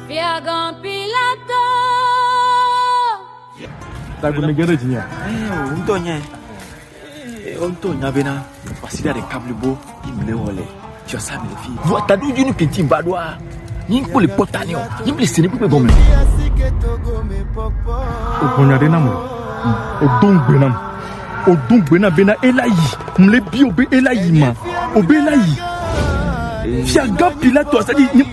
Fiagã Pilato. Tagbe mi gere jinya. Eh, o ŋutɔ nya. Eh, o ŋutɔ nya bena wasida de kablibo imle wole. Tia sa mi le fi. Vua tadu junu kenti ba doa. Ni ko le pota ni o. Ni ble sene pe gome. O konya de namu. O don gbe namu. O don gbe na bena elayi. Mle bi o be elayi ma. O be elayi. Fiagã Pilato asadi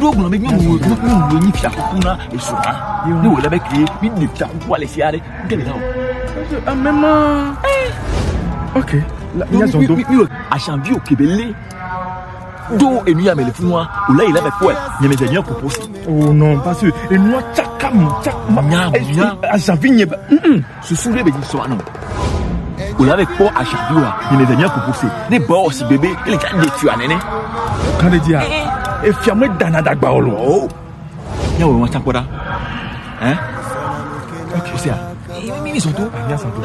ɖo gblɔ be nyɔnu nyɔnu nye fia kuku na esrɔ̃a ne wòle be kee mi ɖe fia kukua le fia ɖe ŋke le o. ame ma ok nyazɔ do. asanvi o kebe le do enu ya me le funua o le yi le me kɔɛ nyeme dze nye kuku si. o nɔ parce que enua tsaka mu tsaka. nya nya asanvi nye ba. Susu ɖe bezi sɔ anɔ. Wòle ave kpɔ aṣavi wa ne meve mia kuku se ne ba wɔ si bebe ele tsa de tsia nene. Kan ɖe dzia. Efia me dana dagba wɔ lɔ. Mia wɔ wɔn tsa kpɔ ɖa. Ɛ. Ok, o se a. Mi mi sɔ to. Mia sɔ to.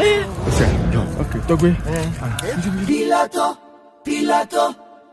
O se a. Ok, tɔgbe. Pilato, Pilato.